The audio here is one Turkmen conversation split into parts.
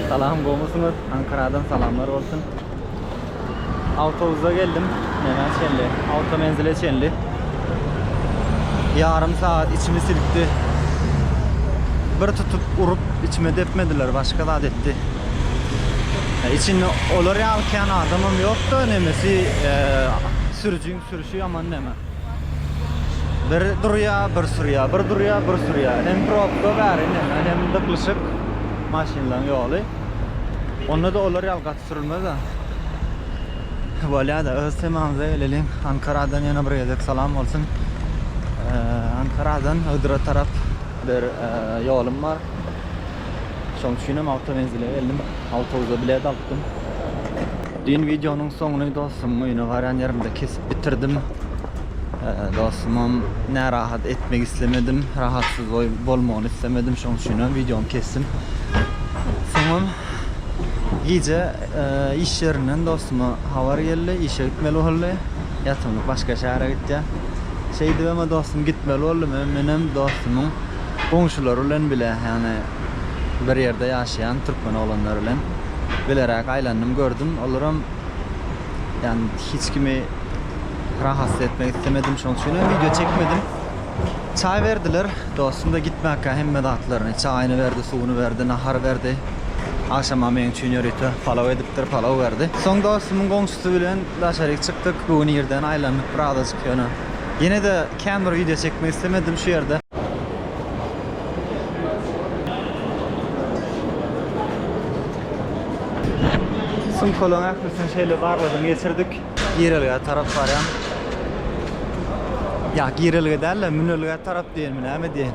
Salam gowmysyňyz Ankaradan salamlar bolsun Awtobuza geldim Nämä çenli Awtomenzile çenli Ýarym sagat içimi silkdi Bir tutup urup içime depmediler başga zat etdi Içinde olar ýaly kän adamam ýokda nemesi sürüjiň Sürüşi ýaman däme. Bir durýa, bir sürýä, bir durýa, bir sürýä. Hem probka bäri indi hem dyklyşyk maşynlaň ýoly. Onda-da olar ýaly gaty sürülmez-ä. Bolýa-da öz temamyza geleliň. Ankaradan ýene bir gezek salam bolsun. Ankaradan Ygra tarap bir ýolum bar. Şoň üçinem awtomenzile geldim. Awtobuza bilet alypdym. Düýn wideonyň soňuny dostumyň öýüne barýan ýerimde kesip bitirdim. Dostumam närahat etmek islemedim. Rahatsyz bolmagyny islemedim. Şoň üçinem wideony kesdim. Soňam gije iş ýerinden dostuma habar geldi. Işe gitmeli boldy. Ýatymlyk başga şähere gitýär. Şeýdibem dostum gitmeli boldy. Menem dostumyň goňşulary bilen bile, ýagny bir ýerde ýaşaýan türkmen oglanlary bilen bileräk aýlandym, gördüm. Olaram, ýagny hiç kimi rahatsuz etmek islemedim, şonuň üçin hem wideo çekmedim. Çaý berdiler, dostum-da gitmäkä hemme zatlaryny, çaýyny berdi, suwuny berdi, nahar berdi. Agşama meň üçin ýörite palaw edipdir, palaw berdi. Soň dostumyň goňşusy bilen daşaryk çykdyk, bu gün irden aýlandyk birazajyk ýöne ýene-de Kän bir wideo çekmek islemedim şu ýerde. Sumkalaryň ählisini şeýle barladan geçirdik. Girelgä tarap barýan. Ýa girelgä däl-de münelgä tarap diýenmi näme diýen.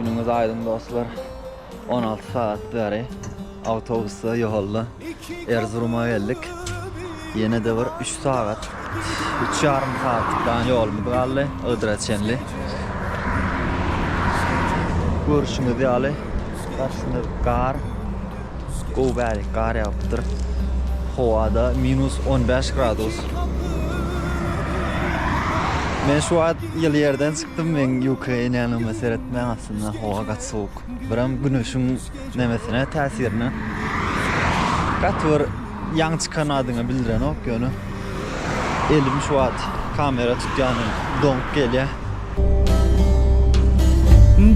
Günüňiz aýdyň dostlar. On alty sagat bäri awtobusda ýolda Erzuruma geldik. Ýene-de bir üç sagat, üç ýarym sagatlyk dagy ýolumyz galdy Ygdyra çenli. Görşüňiz ýaly, garşyda gar, gowy bärik gar ýagypdyr. Howa-da minus on bäş gradus. Men şu wagt ýyly ýerden çykyp. Çykdym men Ukraina'ya öňe seretmän aslynda howa gaty sowuk. Biram güneşiň nemesine täsirine gaty bir ýaň çykan adyňy bildirenok ýöne elim şu wagt kamera tutýandan doňup gelýär.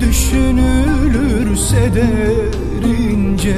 Düşünülürse derince.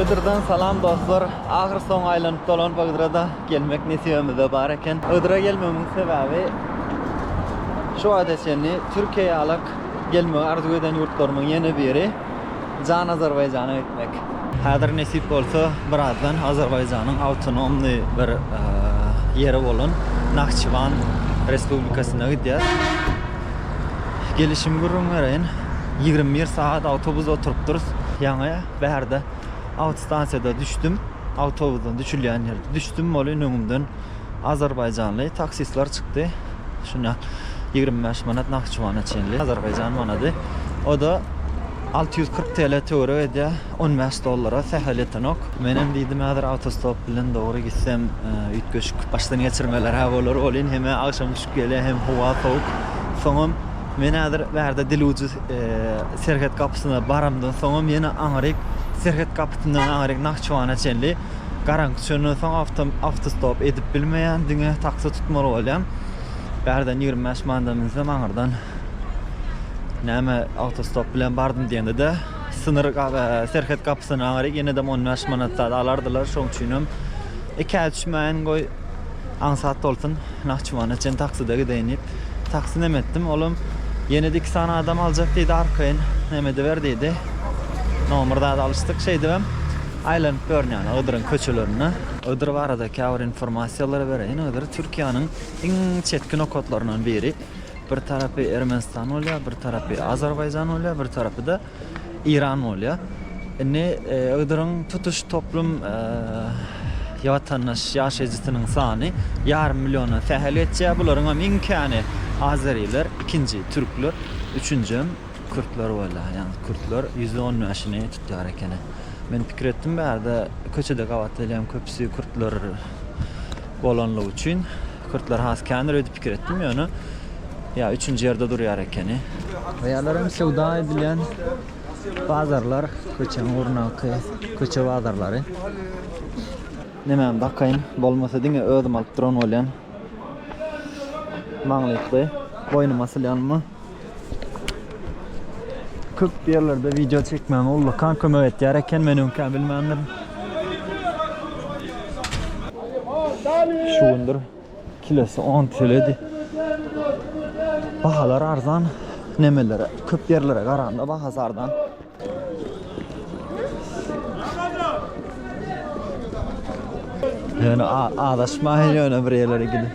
Ygdyrdan salam dostlar. Ahyr soň aýlanyp dolanyp Ygdyra-da gelmek nesibimizde bar eken. Ygdyra gelmegimiň sebäbi şu wagta çenli Türkiýe ýalyk gelmegi arzuw eden ýurtlarymyň ýene biri. Jan Azerbaýjana gitmek. Häzir nesip bolsa birazdan Azerbaýjanyň awtonomny bir ýeri bolan Nahçywan Respublikasyna gidýäs. Gelişim gürrüň bereýin. Ýigrimi bir sagat awtobusa oturypdyrys. Ýaňy bärde awtostansiýada düşdüm. Awtobusdan düşülýän ýerde düşdüm. Ol in öňümden azerbaýjanly taksistler çykdy. Şunda ýigrimi bäş manat Nahçywana çenli azerbaýjan manady. O-da Alty ýüz kyrk TL töweregi edýär, on bäş dollara sähel ýetenok. Menem diýdim häzir awtostop bilen dogry gitsem üýtgeşik başdan geçirmeler-hä bolar welin hem agşam düşüp gelýär hem howa sowuk. Soňam men häzir bärde diluji serhet gapysyna baramdan soňam ýene aňryk serhet gapysyndan aňryk Nahçiwana çenli garaňky çönden soň awtostop edip bilmeýän diňe taksi tutmaly bolýan. Bärden ýigrimi bäş manada münsem aňyrdan Näme awtostop bilen bardym diýende-de synyr serhet gapysyna gaýry ýene-de on bäş manat zat alardylar. Şoň üçin hem ikä düşmäýin goý aňsat bolsun Nahçywana çen takside gideýin diýip taksi nem etdim. Ol hem ýene-de iki sany adam aljak diýdi arkaýyn nem ediber diýdi. Nomer zat alyşdyk şeýdip hem aýlanyp ýörün ýaly Ydyryň köçelerinde. Ydyr barada käbir informasiýalary bereýin. Ydyr Türkiýäniň iň çetki nokatlaryndan biri. Bir tarapy Ermenistan bolýar, bir tarapy Azerbaýjan bolýar, bir tarapy-da Eýran bolýar. Indi Ygydyryň tutuş toplum watandaş ýaşaýjysynyň sany ýarym milliondan sähel geçýär. Bularyň hem iň käni azeriler, ikinji türkler, üçünjem kürtler bolýar. Ýagny kürtler ýüzde on bäşini tutýar ekeni. Men pikir etdim bärde köçede gabat gelýän köpüsi kürtler. bolanlygy üçin kürtler has kändir öýdüp pikir etdim ýöne ýa üçünji ýerde durýar ekeni. Ýalar hem söwda edilýän bazarlar, köçäň ugrundaky köçe bazarlary. Nemäni dakaýyn, bolmasa diňe özüm alyp duran bolýan. Maňlykly, boýnuma asylýanmy? Köp ýerlerde wideo çekmäge ullakan kömek etýär eken, men öňkä bilmändim. Şu gündür kilesi 10 teledi. Bahalar arzan nemelere, köp ýerlere garanda bahasy arzan. Ýöne azaşmaýyn ýöne bir ýerlere gidip.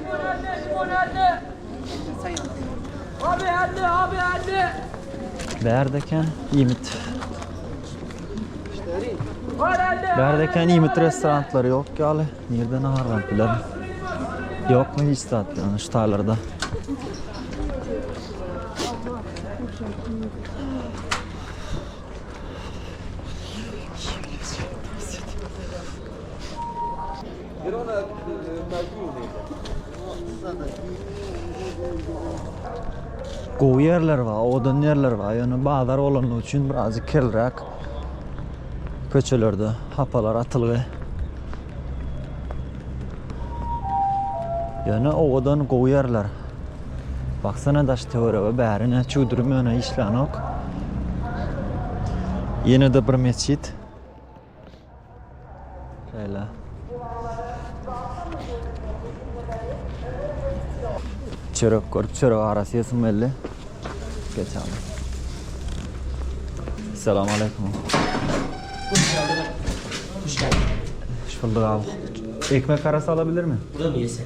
Abi hadi abi hadi. Berdeken ýimit. Berdeken ýimit restoranlary ýok ýaly. Nirde nahar alyp bilerin? Ýokmy hiç zat ýöne şu taýlarda? Gowy ýerler bar, owadan ýerler bar. Ýöne bazar bolanlygy üçin birazjyk kirliräk. Köçelerde hapalar atylgy. Ýöne owadan, gowy ýerler. Baksana daş töwerege bäri ne çüwdürim ýöne işlänok. Ýene-de bir mesjit. Şeýle. Çörek görüp çörek arasy ýesim geldi. Geçelim. Selamun aleyküm. Hoş bulduk abi. Ekmek arası alabilir mi? Burada mı yesek?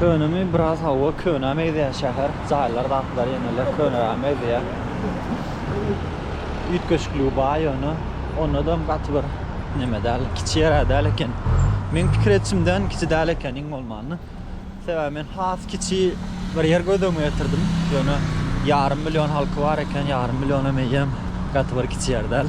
Könemi biraz hava köne meýzeýän şäher, jaýlar zatlar ýene-le köneräk meýzeýär. Üýtgeşikligi bar ýöne onadam gaty bir neme däl, kiçi ýer-ä däl eken. Meň pikir edişimden kiçi däl eken iň bolmanda. Sebäbi men has kiçi bir ýer göz öňüme getirdim. Ýöne ýarym million halky bar eken, ýarym milliona meýem gaty bir kiçi ýer däl.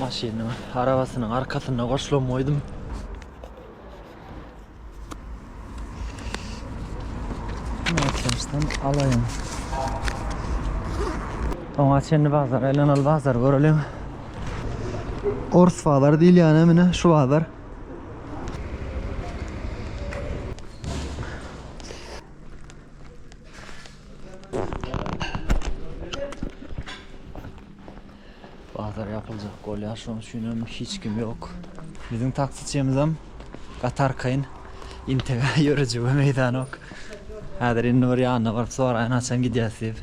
Maşynyň arabasynyň arkasyna goşulan goýdum. Näçemsem alaýyn. Oňa çenli bazar, elen ol bazar göreliň. Ors bazar diýilýän emine şu bazar. Bazar ýapyljak bolýar, şonuň üçin hem hiç kim ýok. Biziň taksiçimizem gaty arkaýyn, intega ýörejige meýdanok. Häzir indi bir ýanyna baryp soraýyn, haçan gidýäs diýip.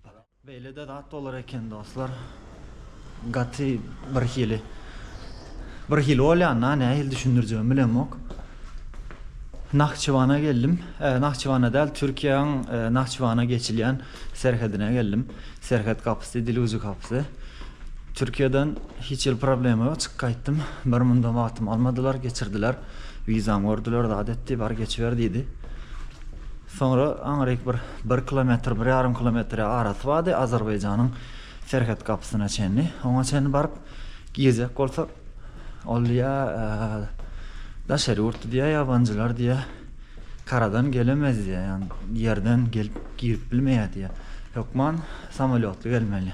Beýlede zat bolar eken dostlar. Gaty bir hili. Bir hili bolýanda nähili düşündirjegimi bilemok. Nahçıwana geldim. E, Nahçıwana däl, Türkiýäň e, Nahçıwana geçilýän serhedine geldim. Serhet gapysy, Diluzi gapysy. Türkiýeden hiç ýyl problema ýok, çyk gaýtdym. Bir mundam wagtym almadylar, geçirdiler. Wizam gördüler, zat etdi, bar geçiber diýdi. Soňra aňryk bir bir kilometr, bir ýarym kilometr arasy bardy, Azerbaýjanyň serhet gapysyna çenli. Oňa çenli baryp girjek bolsak, ol diýýä, daşary ýurtly diýýä, ýabanjylar diýýä, karadan gelemez diýýä, ýerden gelip girip bilmeýär diýýä. Hökman Samolýotly gelmeli.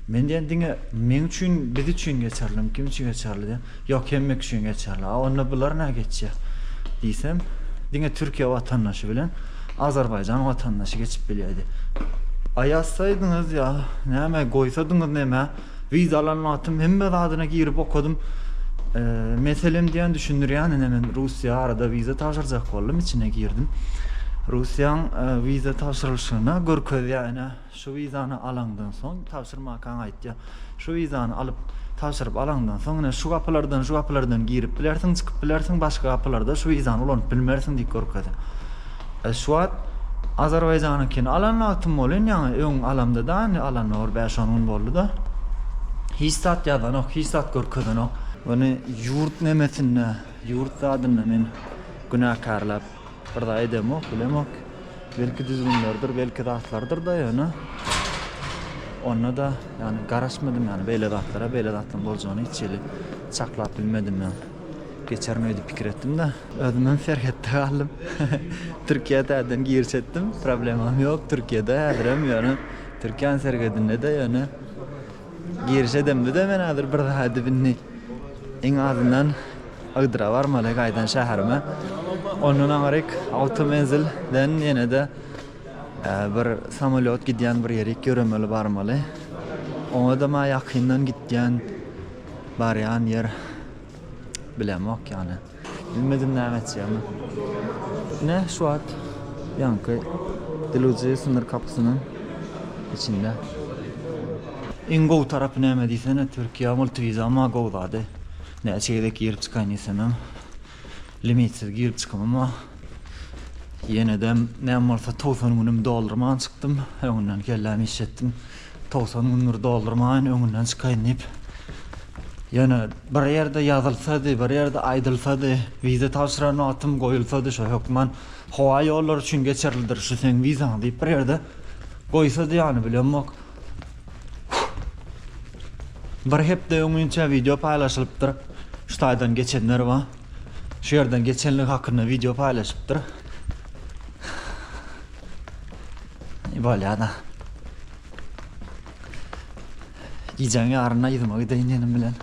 Men diýen diňe meň üçin, biz üçin geçerlimi, kim üçin geçerli diýen. Ýok, hemmek üçin geçerli. A onda bular nä geçýär? diýsem, diňe Türkiýe watandaşy bilen Azerbaýjan watandaşy geçip bilýär diýýär. A ýazsaýdyňyz ýa näme goýsadyňyz nämä? Wiza alan wagtym hemme zadyna girip okadym. Meselem diýen düşündirýän ine men Russiýa arada wiza tabşyrjak boldum içine girdim. Russiýaň wiza tabşyrylyşyna görkezýär ine şu wizany alaňdan soň tabşyrmakaň aýtýar. Şu wizany alyp tabşyryp alaňdan soň ine şu gapylardan şu gapylardan girip bilersiň çykyp bilersiň başga gapylarda şu wizany ulanyp bilmersiň diýip görkezýär. Şu wagt Azerbaýjanyňkyny alan wagtym bolyn ýaňy öň alamda-da indi alanda bir bäş on gün boldy-da. Hiç zat ýazanok hiç zat görkezenok. Ony ýurt nemesinde ýurt zadynda men günäkärläp bir zat edemok bilemok. Belki düzgünlerdir belki zatlardyr-da ýöne onda-da ýagny garaşmadym ýagny beýle zatlara beýle zatlaryň boljagyny hiç hili çaklap bilmedim ýa. Geçerin öýdüp pikir etdim-de, özümem serhetde galdym. Türkiýä täzeden giriş etdim, problemam ýok Türkiýede häzirem ýöne Türkiýäň serhedinde-de ýöne giriş edemde-de men häzir bir daha dibini iň azyndan Ygdyra barmaly gaýdan şäherime. Ondan aňryk awtomenzil den ýene-de bir samolýot gidýän bir ýerik ýöremeli barmaly. Oňa-da maý ýakyndan gitýän Barýan ýer bilemok ýaly. Bilmedim näme etjegimi. Ine şu wagt ýaňky Deluziýa synyr kapysynyň içinde. Iň gowy tarapy näme diýsene Türkiýä multiviza amma gowy zady. Näçe gezek girip çykaýyn diýsemem limitsiz girip çykymym bar. Ýenedem näme bolsa togsan günüm doldurman çykdym. Öňünden kellämi işletdim. Togsan gündür doldurmaýyn, öňünden çykaýyn diýip, ýöne bir ýerde ýazylsady, bir ýerde aýdylsady, wiza tabşyran wagtym goýulsady, şo hökman howa ýollary üçin geçerlidir şu seň wizaň diýip bir ýerde goýsady ýany bilemok. Bir hepde öňinçä wideo paýlaşylypdyr, şu taýdan geçenler bar, şu ýerden geçenligi hakynda wideo paýlaşypdyr. Ne bolýada? Gijäň ýaryna yzyma gideýin diýenim bilen,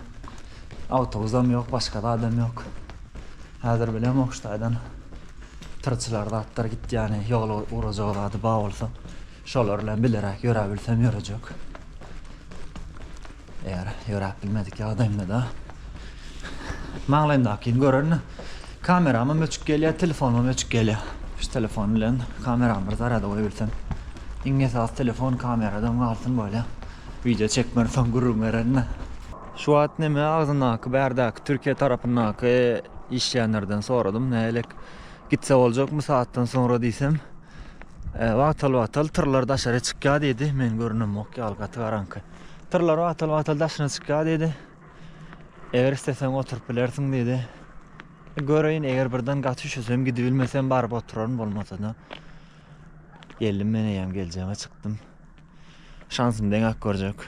awtobusam ýok, başga zadam ýok. Häzir bilem Okştaýdan tyrçylar zatlar gitýäni, ýola ugrajak zady bar bolsa, şolar bilen bileräk ýöräbilsem ýörejek. Eger ýöräp bilmedik ýagdaýymda-da maňlaýymdakyny gören kameramam öçük gelýär, telefonymam öçük gelýär. Şu telefon bilen kameramy bir zarada goýabilsem. Iň esasy telefon kameradan galsyn bolýa. Wideo çekmeli soň gürrüň bererine. Şu wagt neme agzyndaky bärdäki Türkiýe tarapyndaky işleýänlerden soradym nälik gitse boljakmy sagatdan soňra diýsem wagtal wagtal tyrlar daşary çykýa diýdi men görünemok ýaly gaty garaňky. Tyrlar wagtal-wagtal daşyna çykýar diýdi. Eger isleseň oturyp bilersiň diýdi. Göreýin, eger birden gaty üşesem gidibilmesem baryp oturaryn, bolmasa-da geldim men eýýäm geljege çykdym. Şansym deňäp görjek.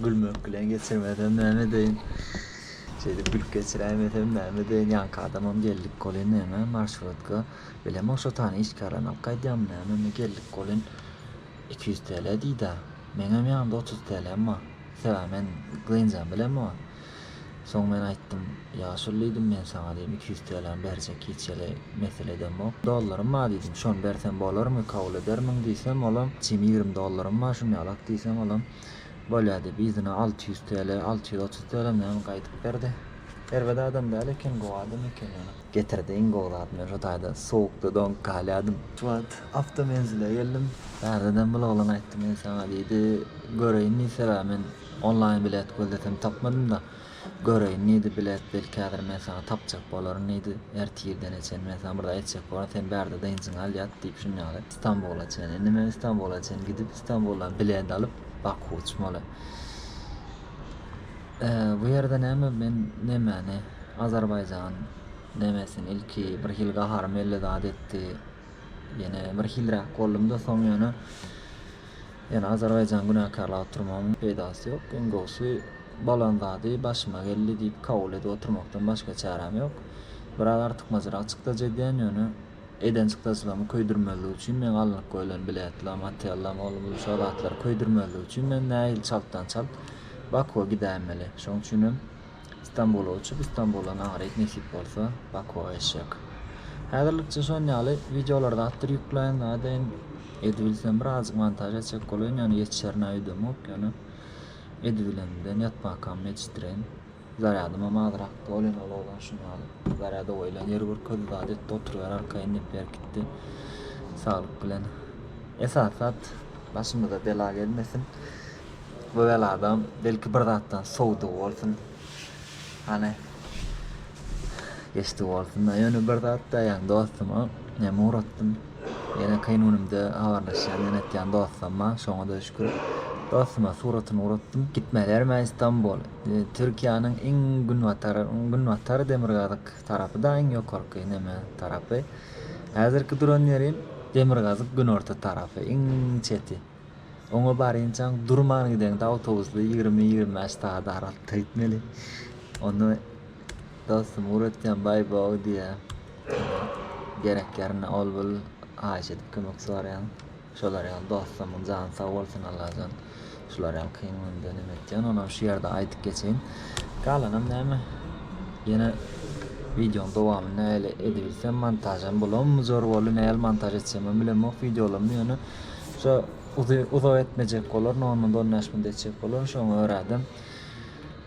Gülmek bilen geçirmesem näme edeýin. Şeýdip gülüp geçiräýmesem näme edeýin. Ýaňky adamam geldik golin näme marşrutka bilemok şo tany işgärini alyp gaýdýarmy näme indi geldik golin iki ýüz TL diýdä. Meňem ýanymda otuz TLm bar. Sebäbi men gynjam bilemok. Soň men aýtdym, Ýaşuly diýdim, men saňa diýdim iki ýüz TLm berjek hiç hili mesele edemok. Dollarym bar diýdim, şony bersem bolarmy, kabul edermiň diýsem olam, çim ýigrimi dollarym bar şuny alak diýsem olam, bolýa diýip yzyna alty ýüz TL alty ýüz otuz TLmi hem gaýdyp berdi. Erbet adam däl eken gowy adam eken ýöne. Getirdi iň gowy zat men şu taýda sowukda doňup galýadym. Şu wagt awtomenzile geldim. Bärde-de bul oglan aýtdy men saňa diýdi göreýin diýdi sebäbi men onlaýn bilet gözlesem tapmadymda. Göreýin, neýdi bilet, belki häzir men saňa tapjak bolaryn, neýdi, ertirdene çen men saňa bir zat aýtjak bolaryn, sen bärde dynjyňy al, ýat, diýip, şunuň ýaly. Stambula çen. Indi men Stambula çen gidip, Stambuldan bilet alyp, Baku uçmaly. Ä, bu ýerde näme, men nemäni, Azerbaýjan nemesini ilki birhili gaharym elli zat etdi, ýene birhiliräk boldum-da, soň ýöne, Ýöne Azerbaýjany günäkärläp oturmagyň peýdasy ýok. Iň gowusy bolan zady başyma geldi diýip kabul edip oturmakdan başga çäräm ýok. Biraz artykmajyrak çykdajy edýän, ýöne eden çykdajylamy köýdürmezlik üçin meň alnyp goýlan biletlam, otellam, ol bul şo zatlary köýdürmezlik üçin men nähili çaltdan çalt Bakuwa gidäýmeli. Şoň üçinem. Stambula uçup Istanbula naharyk nesip bolsa Bakua eşek. Häzirlikçe şon ýaly wideolar zatdyr ýükläýin zadaýyn edibilsem birazjyk montaž etjek bolaýyn ýöne ýetişerine öýdemok ýöne edibilemden ýatmakam mejitren. Zarýadymam azrakdy ol hem ulagdan şun ýaly zarýada goýlan ýeri görkezdi zat etdi oturyber arkaýyn diýip berkitdi. Saglyk bilen. Esasy zat başymyza bela gelmesin. Bu beladam belki bir zatdan sowdy bolsun. Hany geçdi bolsun da ýöne bir zat daýan dostuma näme uratdym. Ýene kyn günümde habarlaşýan ýene etýän dostum bar. Şoňa da şükür. Dostuma suratyny uratdym. Gitmelerme Istanbul. E, Türkiýäniň iň günbatar, günbatar demirgazyk tarapy da iň ýokarky neme tarapy. Häzirki duran ýerim demirgazyk günorta tarapy, iň çeti. Oňa barynçaň durman gideňde awtobusly ýigrimi ýigrimi bäş sagat aralykda gitmeli. Onda dostum ugur etýän baý bow diýýä. Gerek ýerinde ol bul haýyş edip kömek soraýan. Şolar ýaly dostlarymyň jany sag bolsun Allajan. Şular ýaly kyn günde neme etýän onam şu ýerde aýdyp geçeýin. Galanam näme ýene wideoň dowamy näle edibilsem montažam bolammy zor boldy näl montaž etjegimem bilemok wideolarymy ýöne Şo uzak etmejek bolar no munda on bäş munda etjek bolar şoňa görädem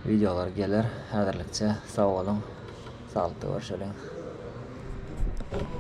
wideolar geler häzirlikçe sag boluň saglyktda görüşeliň.